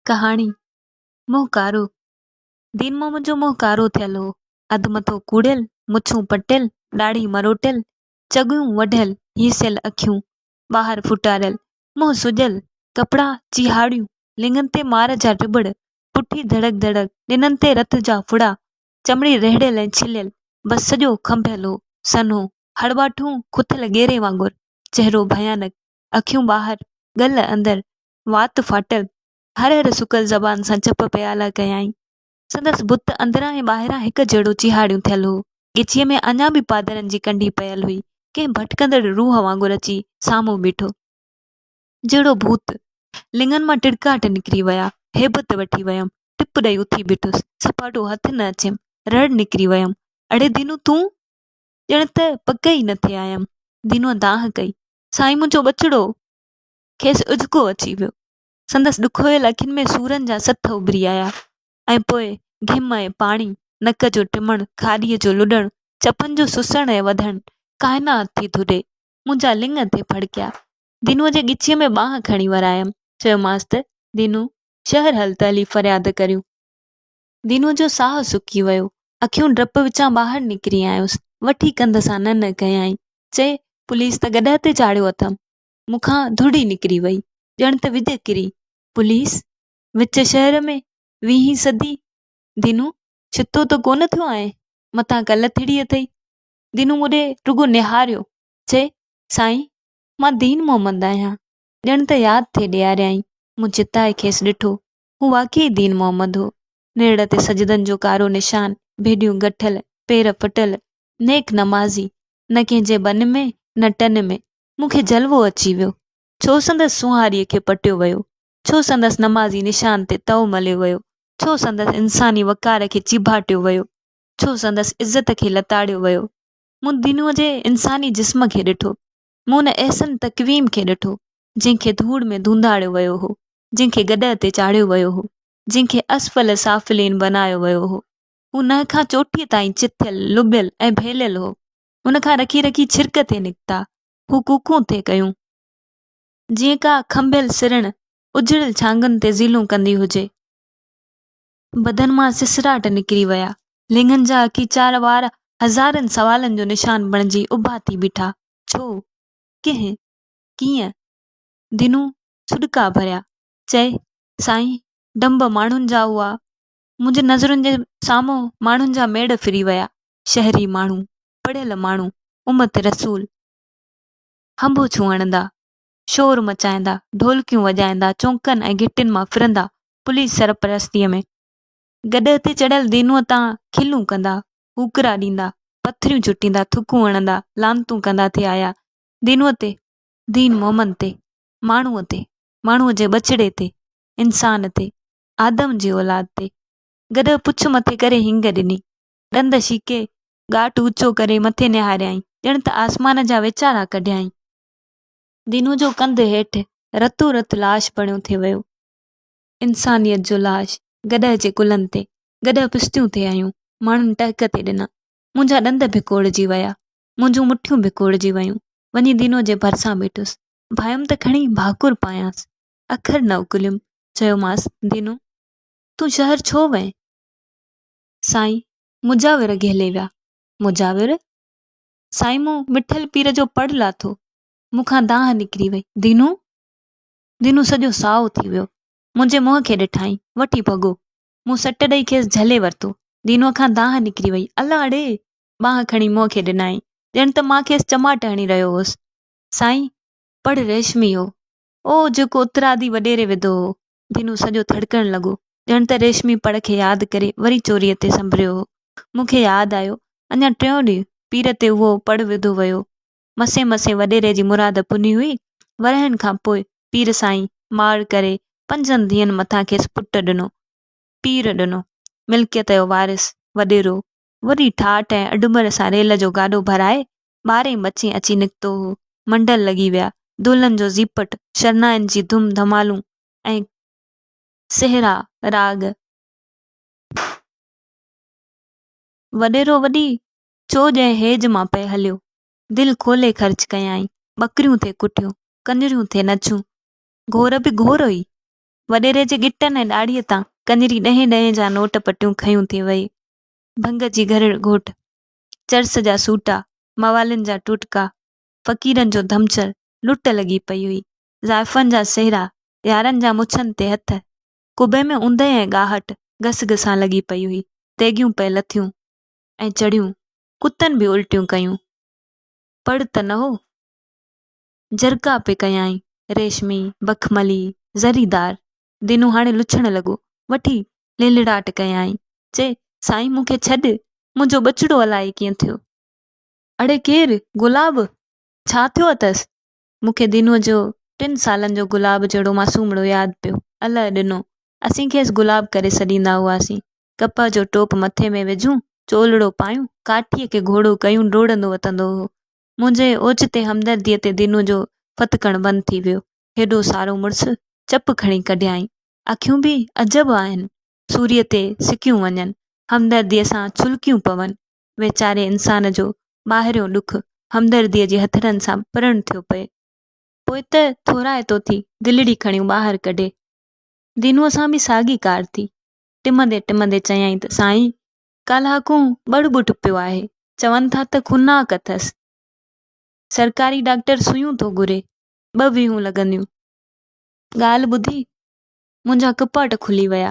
ڪهاڻي، منهن ڪارو، دين محمد جو منهن ڪارو ٿيل هو، اڌ مٿو ڪوڙيل، مڇون پٽيل، ڏاڙهي مروٽيل، چڳيون وڍيل، هيسيل اکيون، ٻاهر ڦٽاريل، منهن سڄيل، ڪپڙا چيهاڙيون، لڱن تي مار جا ٽٻڙ، پٺي ڌڙڪ ڌڙڪ، ڏنن تي رت جا ڦڙا، چمڙي رهڙيل ۽ ڇليل، بس سڄو کنڀيل هو، سنهو، هڙٻاٺون، کٿل ڳيري وانگر، چهرو ڀيانڪ، اکيون ٻاهر، ڳل اندر، وات ڦاٽل، هر هر سڪل زبان سان چپ پيالا ڪيائين. سندس بت اندران ۽ ٻاهران هڪ جهڙو چيهاڙيون ٿيل هو. ڳچيء ۾ اڃا به پادرن جي ڪنڍي پيل هئي. ڪنهن ڀٽڪندڙ روح وانگر اچي سامهون بيٺو. جهڙو ڀوت. لڱن مان ٽڙڪاٽ نڪري ويا. هيبت وٺي ويم. ٽپ ڏئي اٿي بيٺس. سپاٽو هٿ نه اچيم. رڙ نڪري ويم. اڙي دينو تون؟ ڄڻ ته پڪ ئي نه ٿي آيم. دينوء دانهن ڪئي. سائين منهنجو ٻچڙو! کيس اجڪو اچي ويو. سندس ڏکويل اکين ۾ سورن جا سٿ اڀري آيا ۽ پوء گهم ۽ پاڻي، نڪ جو ٽمڻ، کاڏيء جو لڏڻ، چپن جو سسڻ ۽ وڌڻ، ڪائنات ٿي ڌڏي، منهنجا لڱ تي ڦڙڪيا. دينوء جي ڳچيء ۾ ٻانهن کڻي ورايم. چيومانس ته، دينو، شهر هل ته هلي فرياد ڪريون. دينوء جو ساهه سڪي ويو. اکيون ڊپ وچان ٻاهر نڪري آيس. وٺي ڪنڌ سان ننهن ڪيائين. چئي، پوليس ته گڏهه تي چاڙهيو اٿم. مون کان ڌوڙ ئي نڪري وئي ڄڻ ته وڄ ڪري پوليس وچ شهر ۾ ويهين سڌي دينو ڇتو ته ڪونه ٿيو آهين متان ڪل ٿڙي اٿئي دينو مون ڏي رڳو نهاريو چئي سائين مان دين محمد آهيان ڄڻ ته ياد ٿئي ڏياريائين مون چتائي کيس ڏٺو هو واقعي دين محمد هو نيڙ تي سجدن جو ڪارو نشان ڀيڏيون ڳٺل پير ڦٽل نيڪ نمازي نه ڪنهن جي ٻن ۾ نه ٽن ۾ مون کي جلوو اچي ويو، ڇو سندس سونهاريء کي پٽيو ويو، ڇو سندس نمازي نشان تي تئو مليو ويو، ڇو سندس انساني وقار کي چيڀاٽيو ويو، ڇو سندس عزت کي لتاڙيو ويو. مون دنو جي انساني جسم کي ڏٺو، مون ان احسن تقويم کي ڏٺو، جنهن کي ڌوڙ ۾ ڌونڌاڙيو ويو هو، جنهن کي گڏهه تي چاڙهيو ويو هو، جنهن کي اسفل سافلين بنايو ويو هو. هو ننهن کان چوٽيء تائين چٿيل، لٻيل ۽ ڀيليل هو. ان کان رکي رکي ڇرڪ ٿي نڪتا. هو ڪوڪون ٿي ڪيون. جيئن ڪا کنڀيل سرڻ اجڙيل ڇانگن تي زيلون ڪندي هجي. بدن مان سسراٽ نڪري ويا. لينگهن جا اکيچار وار هزارين سوالن جو نشان بڻجي اڀا ٿي بيٺا. ڇو؟ ڪنهن؟ ڪيئن؟ دينو سڏڪا ڀريا. چئي، سائين، ڊنڀ ماڻهن جا هئا. منهنجي نظرن جي سامهون ماڻهن جا ميڙ ڦري ويا. شهري ماڻهو، پڙهيل ماڻهو، امت رسول هنبوڇون هڻندا، شور مچائيندا، ڍولڪيون وڄائيندا، چونڪن ۽ گهٽين مان ڦرندا، پوليس سرپرستيء ۾ گڏهه تي چڙهيل دينوء تان کلون ڪندا، هوڪرا ڏيندا، پٿريون چٽيندا، ٿڪون هڻندا، لعنتون ڪندا ٿي آيا، دينوء تي، دين مومن تي، ماڻهوء تي، ماڻهوء جي ٻچڙي تي، انسان تي، آدم جي اولاد تي، گڏهه پڇ مٿي ڪري هينگ ڏني، ڏند شيڪي، ڳاٽ اوچو ڪري مٿي نهاريائين، ڄڻ ته آسمان جا ويچارا ڪڍيائين. دينو جو ڪنڌ هيٺ رتو رت لاش بڻيو ٿي ويو. انسانيت جو لاش، گڏهه جي ڪلهن تي، گڏهه پشتيون ٿي هنيون، ماڻهن ٽهڪ ٿي ڏنا. منهنجا ڏند ڀڪوڙجي ويا، منهنجون مٺيون ڀڪوڙجي ويون، وڃي دينو جي ڀرسان بيٺس، ڀايم ته کڻي ڀاڪر پايانس، اکر نه اڪليم، چيومانس، دينو! تون شهر ڇو وئين؟ سائين مجاور گهلي ويا. مجاور! سائين مون وٺل پير جو پڙ لاٿو، مون کان دانهن نڪري وئي. دينو! دينو سڄو سائو ٿي ويو. منهنجي منهن کي ڏٺائين، وٺي ڀڳو. مون سٽ ڏئي کيس جهلي ورتو. دينوء کان دانهن نڪري وئي. الا اڙي! ٻانهن کڻي منهن کي ڏنائين، ڄڻ ته مان کيس چماٽ هڻي رهيو هوس. سائين! پڙ ريشمي هو. اهو جيڪو اترادي وڏيري وڌو هو، دينو سڄو ٿڙڪڻ لڳو، ڄڻ ته ريشمي پڙ کي ياد ڪري وري چوريء تي سنڀريو هو. مون کي ياد آيو، اڃا ٽيون ڏينهن پير تي اهو پڙ وڌو ويو هو. مسين مسين وڏيري جي مراد پني هئي. ورهين کان پوء پير سائين ماڙ ڪري پنجن ڌيئن مٿان کيس پٽ ڏنو. پير ڏنو. ملڪيت جو وارث، وڏيرو، وري ٺاٺ ۽ اڍمر سان ريل جو گاڏو ڀرائي ٻارهين مچين اچي نڪتو هو. منڊل لڳي ويا. دولن جو زيپٽ، شرنائين جي ڌم ڌمالون ۽ سهرا راڳ. وڏيرو وڏي چوڄ ۽ هيج مان پئي هليو. دل کولي خرچ ڪيائين. ٻڪريون ٿي ڪٽيون، ڪڃريون ٿي نچيون. گهور به گهور هئي. وڏيري جي ڳٽن ۽ ڏاڙهيء تان ڪڃري ڏهين ڏهين جا نوٽ پٽيون کنيون ٿي ويئي. ڀنگ جي گهرڙ گهوٽ. چرس جا سوٽا، موالين جا ٽوٽڪا، فقيرن جو ڌمچڙ، لٽ لڳي پئي هئي. زائفن جا سهرا، يارن جا مڇن تي هٿ. قبي ۾ اوندهه ۽ ڳاهٽ، گس گسان لڳي پئي هئي. تيڳيون پئي لٿيون ۽ چڙهيون. ڪتن به الٽيون ڪيون. پڙ ته نه هو. جرڪا پئي ڪيائين. ريشمي، بخملي، زريدار دينو هاڻي لڇڻ لڳو. وٺي لڙلڙاٽ ڪيائين، چي، سائين مون کي ڇڏ، منهنجو ٻچڙو الائي ڪيئن ٿيو. اڙي ڪير؟ گلاب؟ ڇا ٿيو اٿس؟ مون کي دينوء جو ٽن سالن جو گلاب جهڙو معصومڙو ياد پيو. الئه ڏنو. اسين کيس گلاب ڪري سڏيندا هئاسين. ڪپهه جو ٽوپ مٿي ۾ وجهون، چولڙو پايون، ڪاٺيء کي گهوڙو ڪيون ڊوڙندو وتندو هو. منهنجي اوچتي همدرديء تي دينوء جو ڦٿڪڻ بند ٿي ويو. هيڏو سارو مڙس چپ کڻي ڪڍيائين. اکيون به عجب آهن، سوريء تي سڪيون وڃن، همدرديء سان ڇلڪيون پون. ويچاري انسان جو ٻاهريون ڏک همدرديء جي هٿڙن سان پرڻ ٿيو پئي. پوء ته ٿورائتو ٿي دلڙي کڻيون ٻاهر ڪڍي. دينوء سان به ساڳي ڪار ٿي. ٽمندي ٽمندي چيائين ته سائين، ڪالهاڪون ٻڙ ٻوٽ پيو آهي، چون ٿا ته خوناڪ اٿس. سرڪاري ڊاڪٽر سوئيون ٿو گهري. ٻه ويهون لڳنديون. ڳالهه ٻڌي منهنجا ڪپاٽ کلي ويا.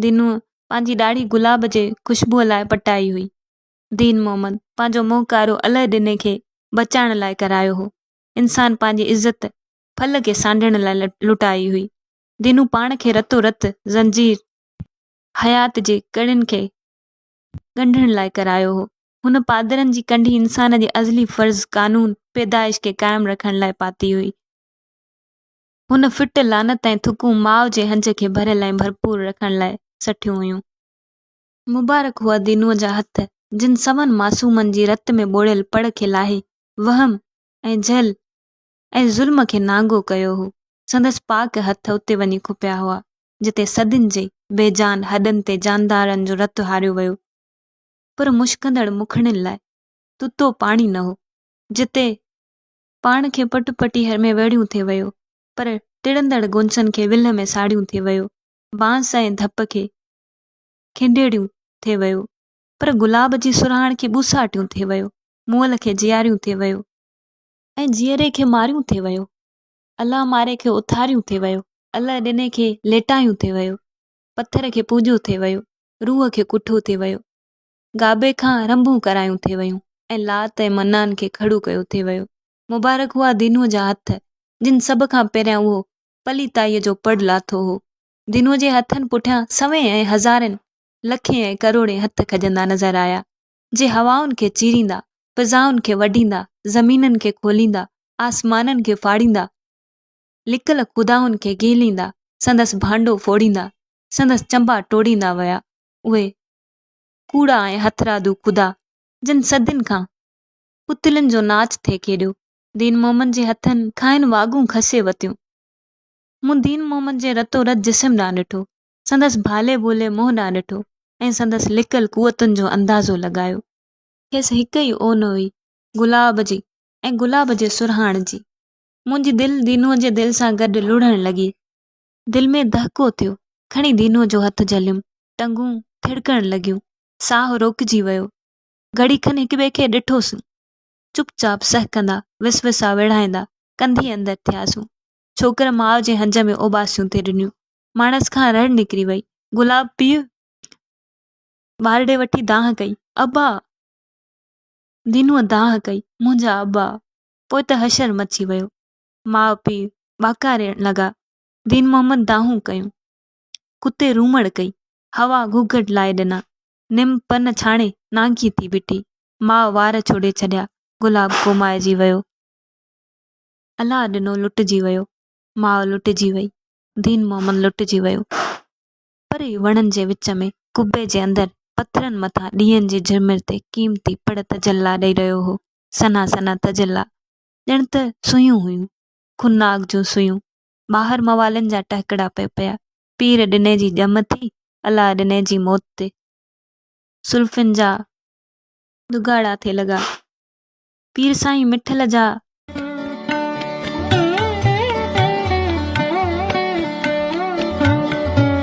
دينوء پنهنجي ڏاڙهي گلاب جي خوشبوء لاء پٽائي هئي. دين محمد پنهنجو منهن ڪارو الهه ڏني کي بچائڻ لاء ڪرايو هو. انسان پنهنجي عزت ڦل کي سانڍڻ لاء لٽائي هئي. دينوء پاڻ کي رتو رت زنجير حيات جي ڪڙين کي ڳنڍڻ لاء ڪرايو هو. هن پادرن جي ڪنڍي انسان جي ازلي فرض قانون پيدائش کي قائم رکڻ لاء پاتي هئي. هن فٽ لعنت ۽ ٿڪون ماء جي هنج کي ڀريل ۽ ڀرپور رکڻ لاء سٺيون هيون. مبارڪ هئا دينوء جا هٿ، جن سون معصومن جي رت ۾ ٻوڙيل پڙ کي لاهي، وهم ۽ جهل ۽ ظلم کي نانگو ڪيو هو، سندس پاڪ هٿ اتي وڃي کپيا هئا، جتي صدين جي بي جان هڏن تي جاندارن جو رت هاريو ويو. پر مشڪندڙ مکڙين لاء تتو پاڻي نه هو، جتي پاڻ کي پٽ پٽي هر ۾ ويڙهيون ٿي ويو، پر ٽڙندڙ گونسن کي ولهه ۾ ساڙهيون ٿي ويو، بانس ۽ ڌپ کي کنڊيڙيون ٿي ويو، پر گلاب جي سرهاڻ کي ٻوساٽيون ٿي ويو، مئل کي جياريون ٿي ويو. ۽ جيئري کي ماريون ٿي ويو. الله ماري کي اٿاريون ٿي ويو. الله ڏني کي ليٽايون ٿي ويو. پٿر کي پوجو ٿي ويو. روح کي ڪٺو ٿي ويو. گابي کان رنڀون ڪرايون ٿي ويون ۽ لات ۽ منان کي کڙو ڪيو ٿي ويو. مبارڪ هئا دينوء جا هٿ جن سڀ کان پهريان اهو پليتائيء جو پڙ لاٿو هو. دينوء جي هٿن پٺيان سوين ۽ هزارين، لکين ۽ ڪروڙين هٿ کڄندا نظر آيا. جي هوائن کي چيريندا، فضائن کي وڍيندا، زمينن کي کوليندا، آسمانن کي ڦاڙيندا، لڪل خدائن کي گهليندا، سندس ڀانڊو ڦوڙيندا، سندس چنبا ٽوڙيندا ويا، اهي ڪوڙا ۽ هٿرادو خدا، جن صدين کان پتلين جو ناچ ٿي کيڏيو. دين محمد جي هٿن کانئن واڳون کسي وتيون. مون دين محمد جي رتو رت جسم ڏانهن ڏٺو، سندس ڀالي ڀولي منهن ڏانهن ڏٺو ۽ سندس لڪل قوتن جو اندازو لڳايو. کيس هڪ ئي اون هئي، گلاب جي ۽ گلاب جي سرهاڻ جي. منهنجي دل دينوء جي دل سان گڏ لڙهڻ لڳي. دل ۾ دهڪو ٿيو. کڻي دينوء جو هٿ جهليم. ٽنگون ٿڙڪڻ لڳيون. ساهه روڪجي ويو. گهڙي کن هڪٻئي کي ڏٺوسون. چپ چاپ سهڪندا، وسوسا ويڙهائيندا، ڪنڌي اندر ٿياسون. ڇوڪر ماء جي هنج ۾ اوٻاسيون ٿي ڏنيون. ماڻس کان رڙ نڪري وئي. گلاب پيء ٻار ڏي وٺي دانهن ڪئي، ابا! دينوء دانهن ڪئي، منهنجا ابا! پوء ته حشر مچي ويو. ماء پيء ٻاڪا رئڻ لڳا. دين محمد دانهون ڪيون. ڪتي رومڙ ڪئي. هوا گهگهٽ لائي ڏنا. نم پن ڇاڻي نانگي ٿي بيٺي. ماء وار ڇوڙي ڇڏيا. گلاب ڪومائجي ويو. الله ڏنو لٽجي ويو. ماء لٽجي وئي. دين محمد لٽجي ويو. پري وڻن جي وچ ۾ قبي جي اندر پٿرن مٿان ڏيئن جي جهرمر تي قيمتي پڙ تجلا ڏئي رهيو هو. سنها سنها تجلا، ڄڻ ته سوئيون هيون. خونناڪ جون سوئيون. ٻاهر موالين جا ٽهڪڙا پئي پيا. پير ڏني جي ڄم ٿي، الله ڏني جي موت تي سلفين جا ڏگهاڙا ٿي لڳا. پير سائين مٺل جا.